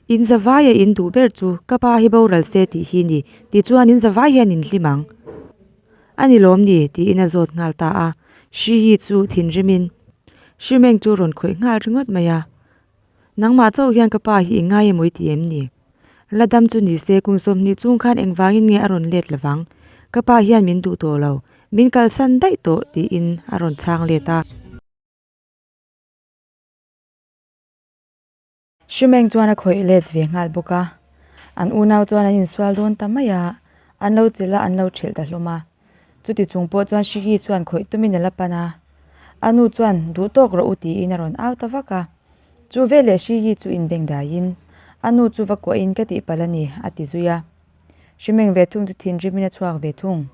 In zavai a in duh ber chu ka pa hi boral se tih hi ni. Tichuan in zavai hian in hlim ang. A ni lawm ni? tiin a zawt nghal ta a. Hri hi chu thinrim in hri meng chu rawn khawih nghal ringawt mai a. Nangmah chauh hian ka pa hi i ngai emaw i ti em ni? La dam chu ni se, kum sawmhnih chung khan engvangin nge a rawn let lo vang? Ka pa hian min duh tawh lo, min kalsan daih tawh tiin a rawn chhang let a. Hri Meng chuan a khawih let ve nghal bawk a, an unau chuan an insual dawn ta mai a, an lo chilh a, an lo ṭhilh ta hlawm a. Chuti chung pawh chuan Hrihi chuan khawih tumin a la pan a, a nu chuan duh tawk rawh u tiin a rawn au ta vak a. Chu veleh Hrihi chu inbeng daiin, A nu chu va kuahin ka tihpalh a ni, a ti zui a. Hrimeng ve thung chu thinrimin a chhuak ve thung.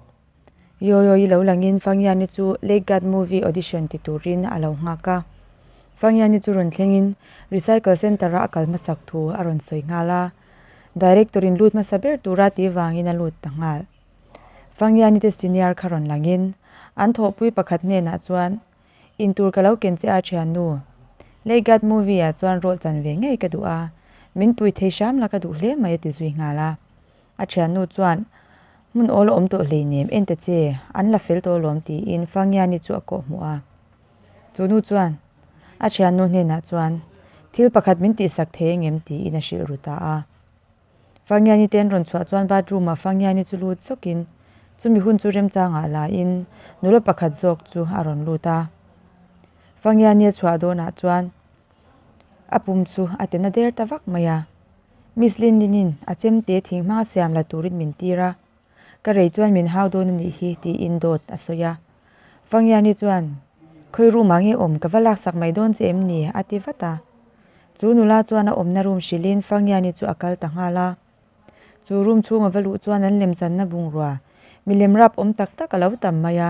Yoyoy lo langin Fangiani chu Lake Guard Movie Audition ti turin a lo nghak a. Fangiani chu rawn thlengin Recycle Centre a a kal hmasak thu a rawn sawi nghal a. Director-in lut hmasa ber tura ti vangin a lut ta nghal. Vangianite senior kha rawn langin an thawhpui pakhat hnenah chuan, In tur ka lo ken che a thiannu, Leigat movie-ah chuan rawh chan ve ngei ka duh a, min pui thei hram la ka duh hle mai a ti zui nghal a. A thiannu chuan, Hmun awl a awm tawh hleinem, enta che an la fel tawh alawm tiin Vangiani chu a kawhhmuh a. Chu nu chuan a thiannu hnenah chuan, Thil pakhat min tihsak thei angem tiin a hrilh ru ta a. Fangiani te an rawn chhuah chuan bathroom ah Fangiani chu lut sawk in chumi hun chu remchang ah la in nula pakhat zawk chu a rawn lut a. Fangiani a chhuah dawn ah chuan a pum chu a te na der ta vak mai a. Miss Lin Lin in a chemte thing hmanga siam la turin min tir a. Ka rei chuan min hau dawn a nih hi tiin dawt a sawi a. Vangiani chuan, Khawi room ah nge awm? Ka va laksak mai dawn che em ni? a ti vat a. Chu nula chuan a awmna room hrilhin Vangiani chu a kal ta nghal a. Chu room chhung a va luh chuan an lemchanna bungrua milem rapawm tak tak a lo tam mai a.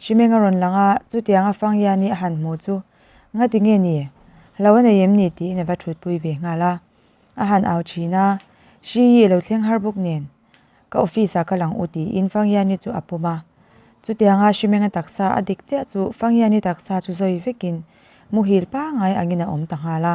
Hrimeng a rawn lang a, chutiang a fang hian i a han hmuh chu Ngati nge ni? Hlo a nei em ni? tiin a va thutpui ve nghal a, a han au thin a, Hri i lo thleng har bawk nen, ka office ah ka lang u tiin fang hian i chu a pawm a. Chutiang a Hrimeng a taksa a dik chiah chu fang hian i taksa chu zawi vekin muhil pangai angin a awm ta nghal a.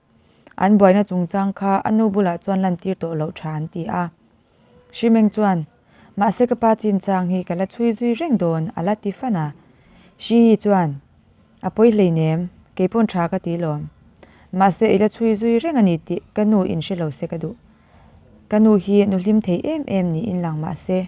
An buaina chungchang kha a nu bulah chuan lantir tawh loh tha an ti a. Hrimeng chuan, Mahse ka pa chin chang hi ka la chhui zui reng dawn, a la ti fan a. Hriyi chuan, A pawi hlei nem, kei pawn tha ka ti lawm. Mahse i la chhui zui reng a ni tih ka nu in hre lo se ka duh. Ka nu hi nuhlim thei em em niin lang mahse.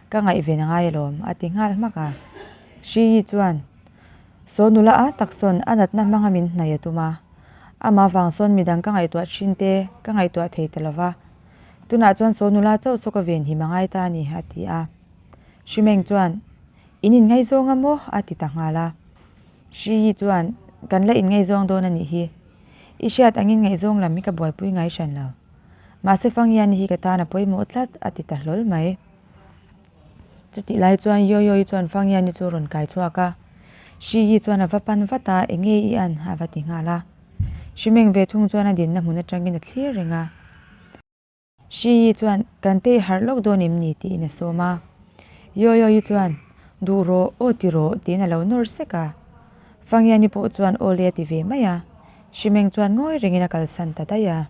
Ka ngaih ve na ngai alawm, a ti nghal hmak a. Hriyi chuan, Saw nula a tak sawn a natna hmanga min hnaih a tum a. Amah vang sawn midang ka ngaihtuah thin te, ka ngaihtuah thei ta lo va. Tunah chuan Saw nula chauh saw ka ve nhim a ngai ta a ni, a ti a. Hrimeng chuan, In inngaihzawng a maw? a ti ta nghal a. Hriyi chuan, Kan la inngaihzawng dawn a nih hi. I hriat angin ngaihzawng lam hi ka buaipui ngai hran lo. Mahse Fangiani hi ka tan a pawimawh tlat, a ti ta hlawl mai. Chutih lai chuan Yoyo-i chuan Fangyan-i chu a rawn kai chhuak a. Hri-i chuan a va pan vat a, Eng nge i an? a va ti nghal a. Hrimeng ve thung chuan a dinna hmun atangin a thlir reng a. Hri-i chuan, Kan tei harh lawk dawn im ni? tiin a sawm a. Yoyo-i chuan, Duh rawh, aw ti rawh, tiin a lo nawr sek a. Fangyan-i pawh chuan aw le a ti ve mai a. Hrimeng chuan ngawi rengin a kalsan ta daih a.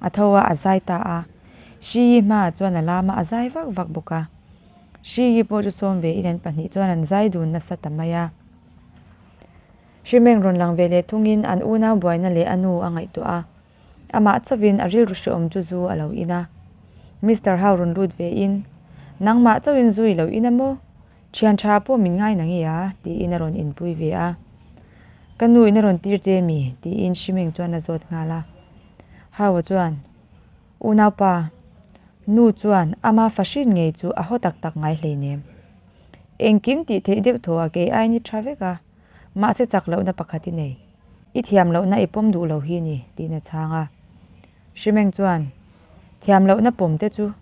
A tho a, a zai ta a. Hri Yi hma ah chuan a lam a, a zai vak vak bawk a. Hri Yi pawh chu sawm ve in an pahnih chuan an zai dun nasa ta mai a. Hri Meng rawn lang ve leh thung in an unau buaina leh a nu a ngaihtuah a. Amah chauh in a rilru hrehawm chu zu a lo in a. Mister Hau rawn lut ve in, Nangmah chauh in zu i lo in a maw? Thian tha ah pawh min ngai na nge a? ti in a rawn inpui ve a. Ka nu in a rawn tir che mi, ti in Hri Meng chuan a zawt nghal a. Hau-a chuan, U naupa, nu chuan ama fa hrin ngei chu a haw tak tak ngai hleinem. Engkim tih theih deuh thaw a kei aini tha vek a, mahse chak lohna pakhat i nei. I thiam lohna i pawm duh lo hi ni, tiin a chhang a. Hrimeng chuan, Thiam lohna pawm te chu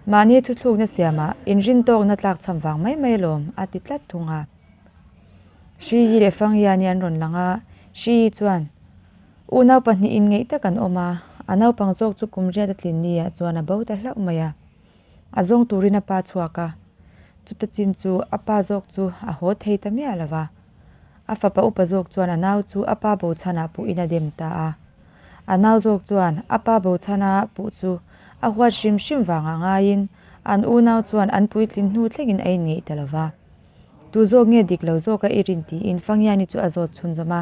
mahni thuthlukna siamah inrin tawkna tlak chham vang mai mai alawm, a ti tlat thung a. Hriyi leh Fangyani an rawn lang a, Hriyi chuan, U nau pahnih in ngeih tak an awm a, a naupang zawk chu kum riat a tlin ni ah chuan a bo ta hlauh mai a. A zawng tur in a pa chhuak a, chuta chin chu a pa zawk chu a haw thei ta miah lo va. A fapa upa zawk chuan a nau chu a pa bo chhan ah puh in a dem ta a. A nau zawk chuan a pa bo chhan a puh chu a huat hrim hrim vang ah ngai in an u nau chuan an puitlin hnu thleng in a in ngeih ta lo va. Tu zawk nge dik lo zawk a i rin ti in Fangiani chu a zawt chhunzawm a.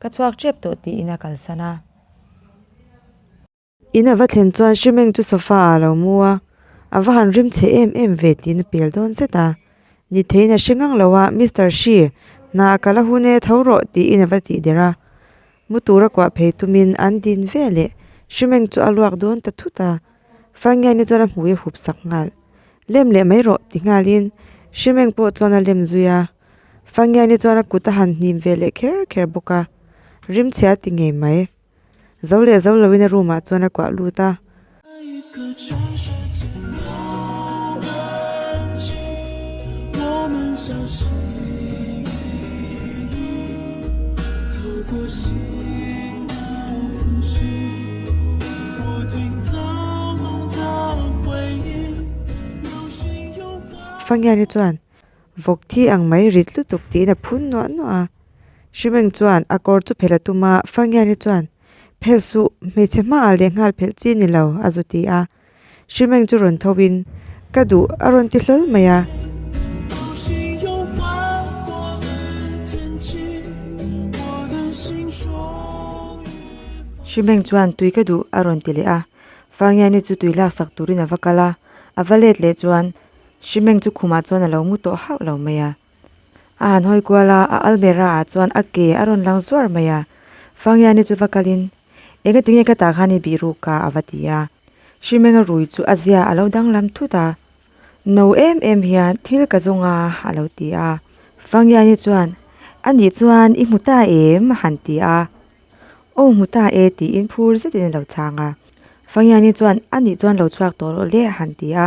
Ka chhuak ṭep tawh tiin a kalsan a. In a va thlen chuan Hrimeng chu sofa ah a lo mu a, a va han rim che em em ve tiin a pel dawn zet a. Ni theiin a hre ngang lo a, Mister Hri, hna a kal a hun e, tho rawh tiin a va tih der a. Mu tur a kuah phei tumin an din ve leh. Hrimeng chu a luak dawn ta thut a. Faingiaina chuan a hmui a hup sak nghal. Lem leh mai rawh ti nghalin Hrimeng pawh chuan a lem zui a. Fangiani chuan a kut a han hnim ve leh kher kher bawk a, rim chhia a ti ngei mai. Zo leh zo loin a room ah chuan a kuah lut a. Fangiani chuan Vawk thi ang mai rit lutuk tiin a phun nuah nuah a. Hrimeng chuan a kawr chu phelh a tum a, Fangiani chuan, Phelh suh, hmeichhe hmaah lehnghal phelh chi ni lo, a zu ti a. Hrimeng chu rawn tho in, Ka duh, a rawn ti hlawl mai a. Hrimeng chuan tui ka duh a rawn ti leh a. Fangiani chu tui laksak turin a va kal a, a va let leh chuan, hri meng chu khumah chuan a lo ngu tawh hauh lo mai a a han hawi kual a a almera ah chuan a ke a rawn lang zuar mai a Fangiani chu va kalin eng atinge ka tah khan i bih ruk ka a va ti a hri menga rui chu a zia a lo danglam thut a no em em hian thil ka zawng a a lo ti a Fangiani chuan a nih chuan i hmu ta em a han ti a aw hmu ta e tiin phur zet in a lo chhang a Fangiani chuan a nih chuan lo chhuak tawh rawh le a han ti a.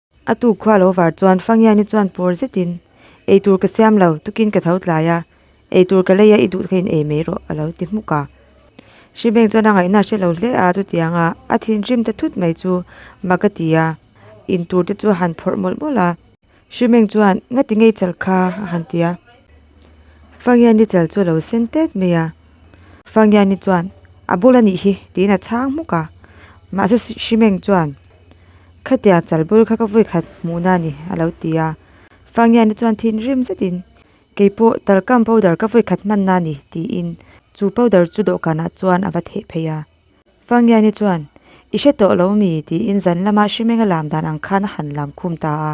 A tu khua lo var chuan Fangiaini chuan pawr zetin, Ei tur ka siam lo, tukin ka tho tlai a, ei tur ka lei a, i duh kha in ei mai rawh, a lo ti hmuk a. Hrimeng chuan a ngaihna a hre lo hle a, chutianga a thinrim ta thut mai chu mak a ti a, in tur te chu a han phawrh mawlh mawlh a. Hrimeng chuan, Ngati ngei chal kha, a han ti a. Fangiaini chal chu a lo sen têt mai a. Fangiaini chuan, A bul a nih hi, tiin a chhang hmuk a. Mahse Hrimeng chuan, Khatiang chal bul kha ka vawi khat hmuhna a ni, a lo ti a. Fangian-a chuan thinrim zetin, Kei pawh Talcam powder ka vawi khat hmanna a ni, tiin chu powder chu dawhkanah chuan a va theh phei a. Fangian-i chuan, I hre tawh lo mi? tiin zan lama hrimenga lam dan ang khan a han lam khum ta a.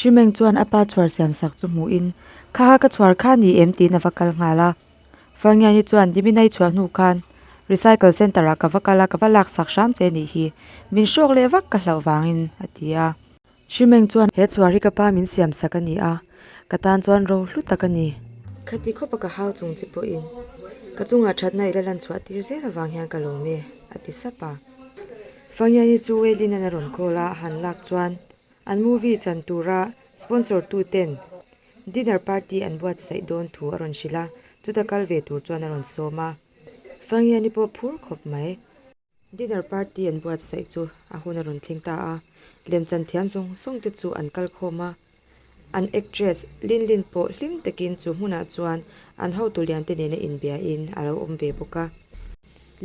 Hrimeng chuan a pa chhuar siam sak chu hmuhin, Khaha ka chhuar kha ni em? tiin a va kal nghal a. Fangngiani chuan, Diminei chhuah hnu khan recycle centre ah ka va kal a, ka va lak sak hram che nih hi, min hrawk leh vak ka hlauh vangin, a ti a. Hrimeng chuan, He chhuar hi ka pa min siam sak a ni a, ka tan chuan ro hlu tak a ni. Khati khawpa ka hau chung chi pawhin ka chungah thatna i la lan chhuah tir zel avang hian ka lawm e, a ti sap a. Fangngiani chu Wei Lin-a'n a rawn call a, a han lak chuan, An movie chan tura sponsor tu ten dinner party an buatsaih dawn thu a rawn hrilh a, chuta kal ve tur chuan a rawn sawm a, Fangiani pawh phur khawp mai. Dinner party an buatsaih chu a hun a rawn tling ta a, lem chan thiam zawng zawng te chu an kal khawm a, an actress Linlin pawh hlim takin chu hmunah chuan an hotu lian te nena inbia in a lo awm ve bawk a.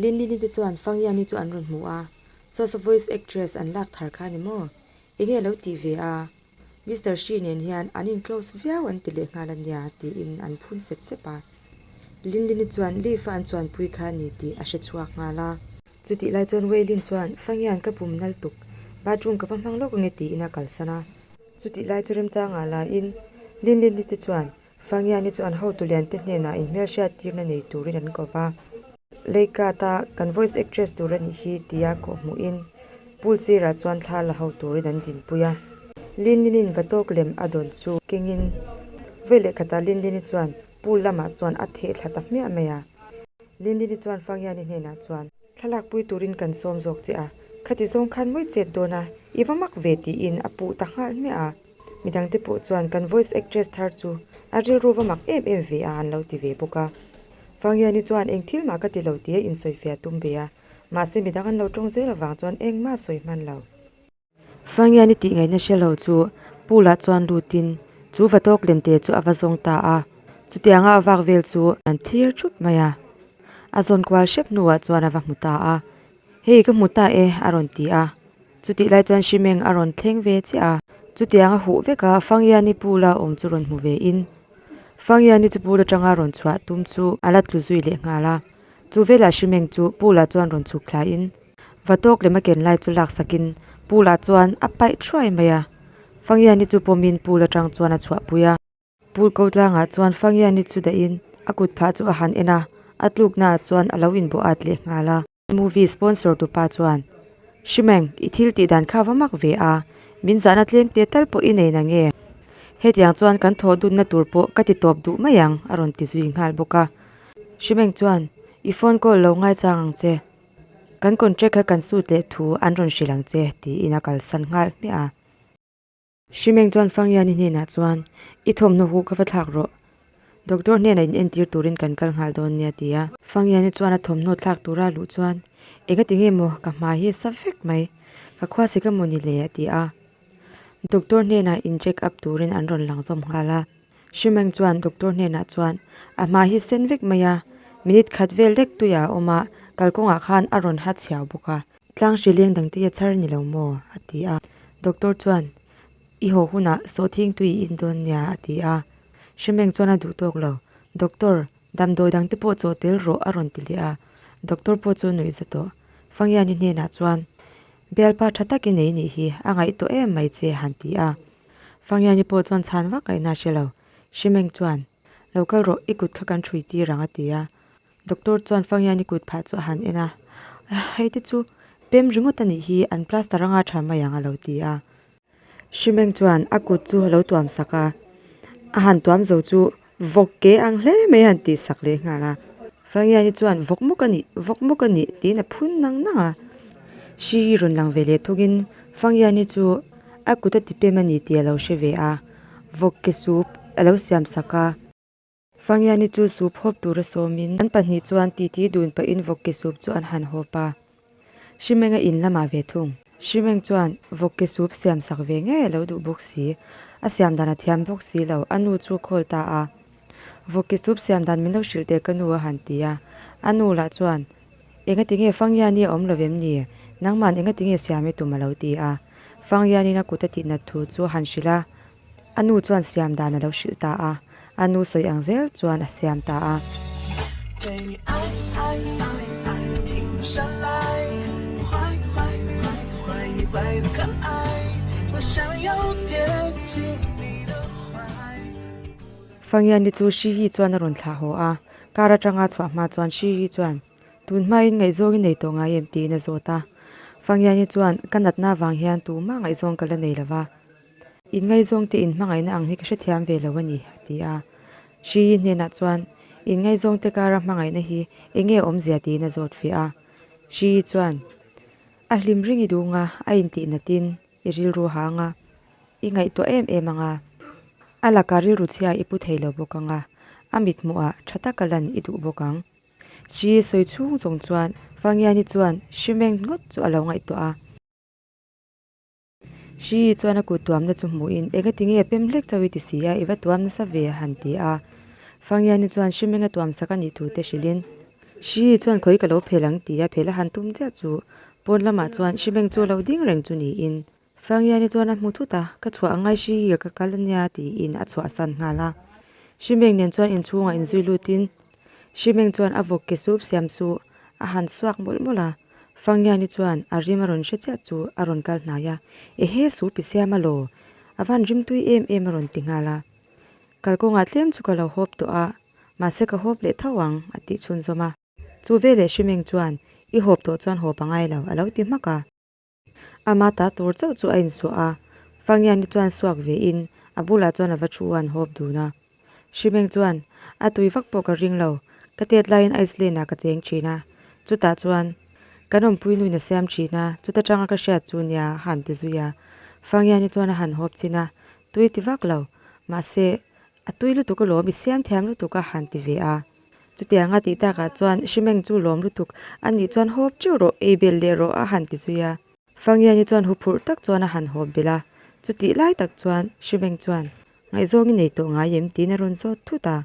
Linlin-i te chuan Fangiani chu an rawn hmu a, Source, Voice Actress an lak thar kha a ni maw? Enge lo tih ve a, Mister Hri nen hian an in-close viau an ti leh nghal a nia tiin an phun sep sep a. Linlin-i chuan Leaf-a an chuanpui kha a ni tih a hre chhuak nghal a. Chutih lai chuan Wei Lin chuan Fangian ka pum nal tuk, bathroom ka va hmang lawk ange tiin a kalsan a. Chutih lai chu remchang ngah lahin Linlin-i te chuan Sangiani chuan hotu liante hnenah in hmelhriat tirna nei turin an ko va, Leikata kan voice actress tur a nih hi tia kawh hmuhin pool sirah chuan thla la ho turin an dinpui a. Linlinin va tawk lem a dawn chu kengin vawi leh khatah Linlini chuan pool lamah chuan a theh thla ta hmiah mai a. Linlini chuan Fangiani hnenah chuan. Thlalak pui turin kan sawm zawk che a, khati zawng khan mawi chet dawn a, i va mak ve tiin a puh ta nghal hmiah a. Mi dangte pawh chuan kan voice actress thar chu a rilru va mak em em ve a an lo ti ve bawk a. Fangiani chuan eng thil mah ka ti lo tia insawi fe a tum ve a, mahse midang an lo tawng zel avang chuan engmah sawi hman lo. Fangiani tih ngaihna hre lo chu Pu lah chuan lutin chu va tawk lem te chu a va zawng ta a, chutianga a vak vel chu an thlir thup mai a, a zawn kual hrep hnuah chuan a va hmu ta a, Hei ka hmu ta e, a rawn ti a. Chutih lai chuan Hrimeng a rawn thleng ve chiah a. Chutiang a huh vek a, Fangiani pu la awm chu rawn hmu ve in, Fangiani chu pu la tanga rawn chhuah tum chu a la tlu zui leh nghal a. Chu velah Hrimeng chu pu la chuan rawn chhuk thlai in, va tawk lem a ken lai chu lak sak in pu la chuan a paih thuai mai a. Fangiani chu pawm in pu la tang chuan a chhuahpui a. Pu Ko Tlanga chuan Fangiani chu dahin a kut phah chu a han en a, a tluknaah chuan a lo inbuahat leh nghal a. Movie sponsor tupa chuan, Hrimeng, i thil tih dan kha va mak ve a, min zahna tlem te tal pawh i nei na nge? Hetiang chuan kan thaw dunna tur pawh ka ti tawp duh mai ang, a rawn ti zui nghal bawk a. Hrimeng chuan, I phone call lo ngaichang ang che, kan contract kha kan sut leh thu an rawn hrilh ang che, tiin a kalsan nghal hmiah a. Hrimeng chuan Fangiani hnenah chuan, I thawmhnaw huh ka va thlak rawh. Doctor hnenah in entir turin kan kal nghal dawn nia, a ti a. Fangiani chuan a thawmhnaw thlak tura luh chuan, Enga ti nge maw, ka hma hi a sa vek mai. Ka khua si ka mu ni le, a ti a. Doctor hnenah in check up turin an rawn lang zawm nghal a. Hrimeng chuan Doctor hnenah chuan, A hma hi a sen vek mai a, minute khat vel dek tuiah a awm a, kalkawngah khan a rawn ha chhiau bawk a. Tlang hri leng dang te i a char ni lo maw? a ti a. Doctor chuan, I haw hunah saw thing tui i in dawn nia, a ti a. Hrimeng chuan a duh tawk lo. Doctor, damdawi dang te pawh chaw tel rawh, a rawn ti leh a. Doctor pawh chu nuih za tawh. Fangiani hnenah chuan, Bialpa tha tak i nei nih hi, a ngaih tawh em mai che, han ti a. Fangiani pawh chuan chhan vak a in a hre lo. Hrimeng chuan, Lo kal rawh, i kut kha kan hrui tir ang, a ti a. Doctor chuan Fangiani kut phah chu a han en a, Hei te chu pem ringawt anih hi, an plaster anga tha mai ang, a lo ti a. Hrimeng chuan a kut chu a lo tuam sak a, a han tuam zo chu vawk ke ang hle mai a han tih sak leh nghal a. Fangiani chuan vawk mawk a ni, vawk mawk a ni tiin a phun nang nang a. Hri rawn lang ve leh thukin Fangiani chu a kut a ti pem a ni tih a lo hre ve a, vawk ke chu a lo siam sak a. Fangiani chu sup hawp tura sawmin an pahnih chuan titi dun pahin vawk ke sup chu an han hawp a. Hrimenga in lamah ve thung. Hrimeng chuan, Vawk ke sup siam sak ve ngei a lo duh bawk si. A siam dan a thiam bawk si lo, a nu chu a call ta a. Vawk ke sup siam dan min lo hrilh teh ka nu a han ti a. A nu lah chuan, Engati nge Fangiani a awm lo em ni? Nangman engati nge siam e tum a lo ti a. Fangianin a kut a tih nat thu chu a han hrilh a, A nu chuan siam dan a lo hrilh ta a, a nu sawi ang zel chuan a siam ta a. Fangiani chu hri hi chuan a rawn thlah haw a, kar atanga chhuah hma chuan hri hi chuan tun hmain ngaihzawng i nei tawh ngai em tiin a zawt a. Fangiani chuan ka natna vang hian tumah ngaihzawng ka la nei lo va. In ngaizawng te in hmangaihna ang hi ka hrethiam ve lo a ni, a ti a. Hriyi hnenah chuan in ngaizawng te kara hmangaihna hi eng nge awmzia tiin a zawt fiah a. Hriyi chuan, A hlim ring i dûng a, a intih natin i rilru hâng a, i ngaihtuah em em ang a. A laka rilru chhiaa i pu thei lo bawk ang a, a mithmuhah ṭha taka lan i duh bawk ang. Hriyi sawi chhûng zawng chuan Vangiani chuan hrimeng ngawt chu a lo ngaihtuah a. Hriii chuan a kut tuamna chu hmuhin, Eng ati nge pem hlek chauh i ti si a, i va tuam nasa ve a han ti a. Fangiani chuan hrim enga tuam sak a nih thu te hrilhin, Hriii chuan khawi ka lo phel ang ti a, phel a han tum chiah chu. Pawn lamah chuan Hrimeng chu a lo ding reng chu niin, Fangiani chuan a hmu thut a, ka chhuah angai hriii ka kal ania tiin a chhuah san nghal a. Hrimeng nen chuan inchhungah in zui lutin, Hrimeng chuan a vawk ke sup siam chu a han suak mawlh mawlh a, Fangngiani chuan a rim a rawn hre chiah chu a rawn kal hnai a, Ehe sup i siam alaw, a van rim tui em em a rawn ti nghal a, kal kawngah tlem chu ka lo hawp tawh a, mahse ka hawp leh tho ang, a tih chhunzawm a. Chu veleh Hrimeng chuan, I hawp tawh chuan hawp a ngai lo, a lo ti hmak a. A mata tur chauh chu a insuah a, Fangiani chuan suak ve in a bulah chuan a va thu a an hawp dun a. Shimeng chuan, A tui vak pawh ka ring lo, ka tet lai in ice lane ah ka cheng thin a, chutah chuan ka nawmpui nuin a siam thin a, chuta tang a ka hriat chu nia a han ti zui a. Fangiani chuan a han hawp chin a, Tui ti vak lo, mahse A tui lutuk a lawm i siam thiam lutuk a han ti ve a. Chutiang a tih takah chuan Hrimeng chu lawm lutuk a nih chuan hawp ṭeuh rawh, ei bel leh rawh a han ti zui a. Fangiani chuan hu phurh tak chuan a han hawp belh a. Chutih lai tak chuan Hrimeng chuan, Ngaihzawng i nei tawh ngai em? tiin a rawn zawt thut a.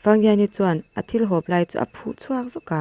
Fangiani chuan a thil hawp lai chu a phuh chhuak zawk a.